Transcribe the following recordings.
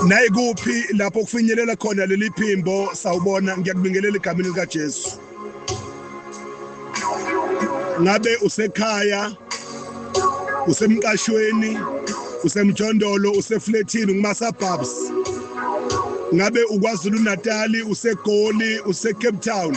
naye kuphi lapho kufinyelela khona leli phimbo sawubona ngiyakubingelela egameni likaJesu ngabe usekhaya usemqashweni usemjondolo usefletini ngumasabhabs ngabe ukwazulu natali usegoli usecape town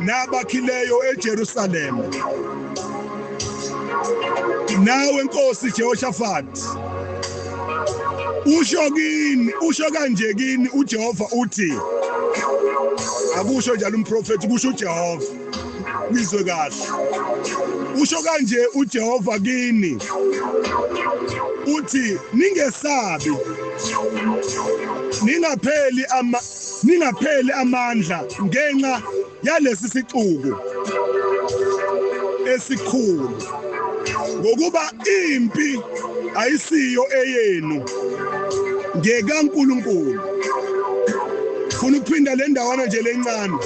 nabakhileyo eJerusalema nawe nkosi Jehoshaphat usho kini usho kanje kini uJehova uthi akusho njalo umprofeti kusho uJehova nizwe kahle usho kanje uJehova kini uthi ningesabi ningapheli ama ningapheli amandla ngenxa yalesi sixuku esikhulu ngokuba impi ayisiyo eyenu ngekaNkulunkulu funa ukuphinda le ndawana nje lencane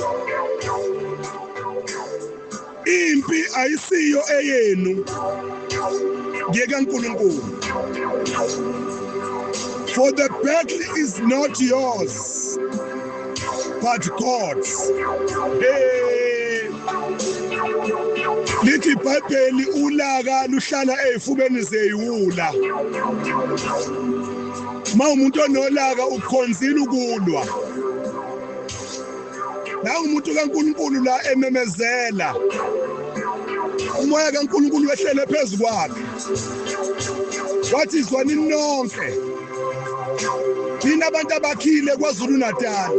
Impi ayisiyo eyenu. Ngiyeka uNkulunkulu. For the battle is not yours but God's. Hey. Lithi iBhayibheli ulaka luhlala ezifubeni zeyiwula. Uma umuntu onolaka ukhonzile ukulwa. nangu umuntu kaNkulunkulu la ememezela umoya kaNkulunkulu wehlele phezu kwakhe wathi izwani nonke nina abantu abakhile kwaZulu Natal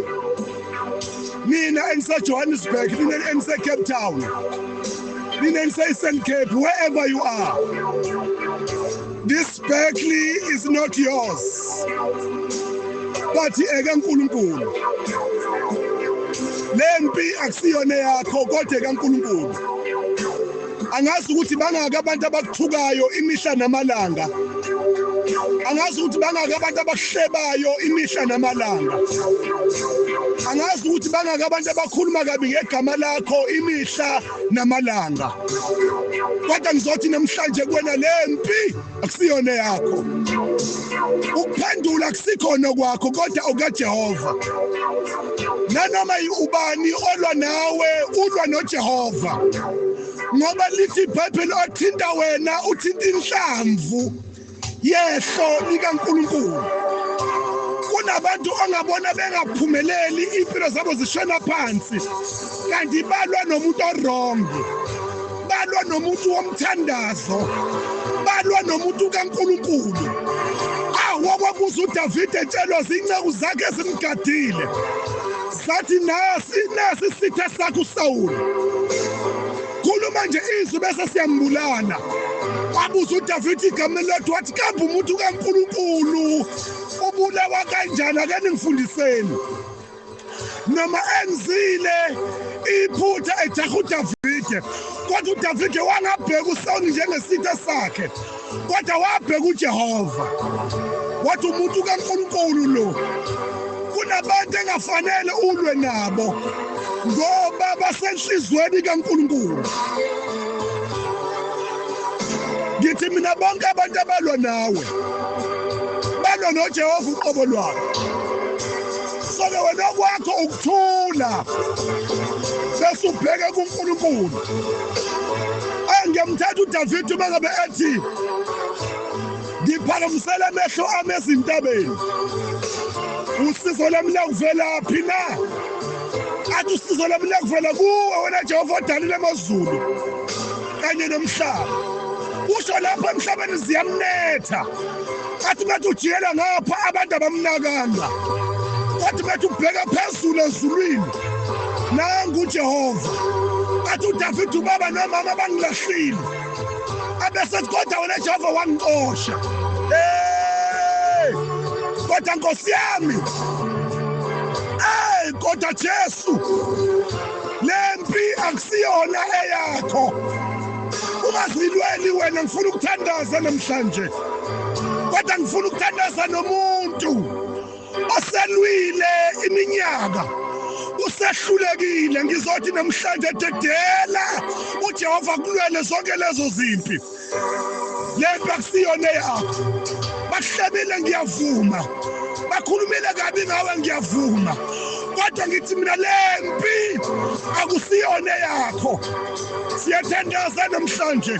mina engiseJohannesburg mina engiseCape Town mina engiseEastern Cape wherever you are this Berkeley is not yours wathi eke uNkulunkulu lempi akusiyona yakho kodwa kaNkulunkulu angazi ukuthi bangaka abantu abakuthukayo imihla namalanga angazi ukuthi bangaka abantu abakuhlebayo imihla namalanga angazi ukuthi bangaka abantu abakhuluma kabi ngegama lakho imihla namalanga kodwa ngizothi namhlanje kuwena lempi akusiyona yakho ukuphendula kusikhona kwakho kodwa okajehova nanoma ubani olwa nawe ulwa nojehova ngoba lithi ibhayibheli othinta wena uthinta inhlamvu yehlo likankulunkulu kunabantu ongabona bengaphumeleli impilo zabo zishona phansi kanti balwa nomuntu orong balwa nomuntu womthandazo balwa nomuntu kaNkulunkulu awokwakuza uDavide etshelwa zinceku zakhe zimgadile sathi nasi nasi sitha sakho uSawulu khuluma nje izwi bese siyambulala wabuza uDavide igama lethu wathi kambe umuntu kaNkulunkulu ubulawa kanjani ake ningifundiseni noma enzile iphutha ejaha uDavide kodwa uDavide wangabheka uSawuli njengesitha sakhe kodwa wabheka uJehova wathi umuntu kaNkulunkulu lo kunabantu engafanele ulwe nabo ngoba basenhlizweni kaNkulunkulu ngithi mina bonke abantu abalwa nawe balwa noJehova uqobo lwabo Sale wena kwakho ukuthula. Bese ubheke kuNkulunkulu. Engiyamthatha uDavid uma ngabe ethi ngiphakamisela amehlo ami ezintabeni. Usizo lami lakuvelaphi na? Athi usizo lami lakuvela kuwe wena Jehova odalile amazulu kanye nomhlaba. Usho lapho emhlabeni ziyamnetha. athi bathi ujikela ngapha abantu abamnakanga athi bathi ubheka phezulu ezulwini nangu ujehova athi udavide ubaba nomama bangilahlile abesethi kodwa wena jehova wangixosha kodwa nkosi yami ey kodwa jesu le mpi akusiyona eyakho ungazilweli wena ngifuna ukuthandaza namhlanje kodwa ngifuna ukuthandaza nomuntu oselwile iminyaka usehlulekile ngizothi namhlanje dedela uJehova kulwele zonke lezo zimpi lento akusiyona yakho bahlebile ngiyavuma bakhulumile kabi ngawe ngiyavuma kodwa ngithi mina lempi akusiyona yakho siyathandaza namhlanje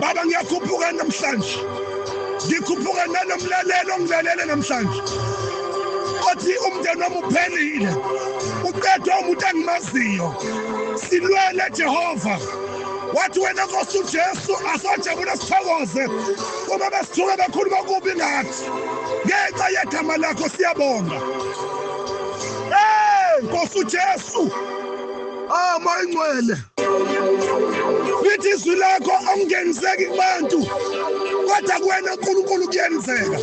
baba ngiyakhuphuka namhlanje ngikhuphuka nanomlalelo ngilalele namhlanje othi umndeni wami uphelile uqedwe umuntu engimaziyo silwele jehova wathi wena nkosi ujesu asojabula sithokoze uma besithuke bekhuluma kubi ngathi ngenxa yegama lakho siyabonga ey nkosi ujesu ama ingcwele lithi izwi lakho awungeniseki kubantu kodwa kuwena unkulunkulu kuyenzeka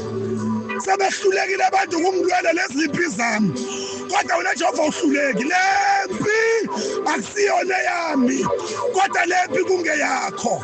sebehlulekile abantu ukungilwela lezi limpi zami kodwa wena jehova uhluleki le mpi akusiyona yami kodwa le mpi kungeyakho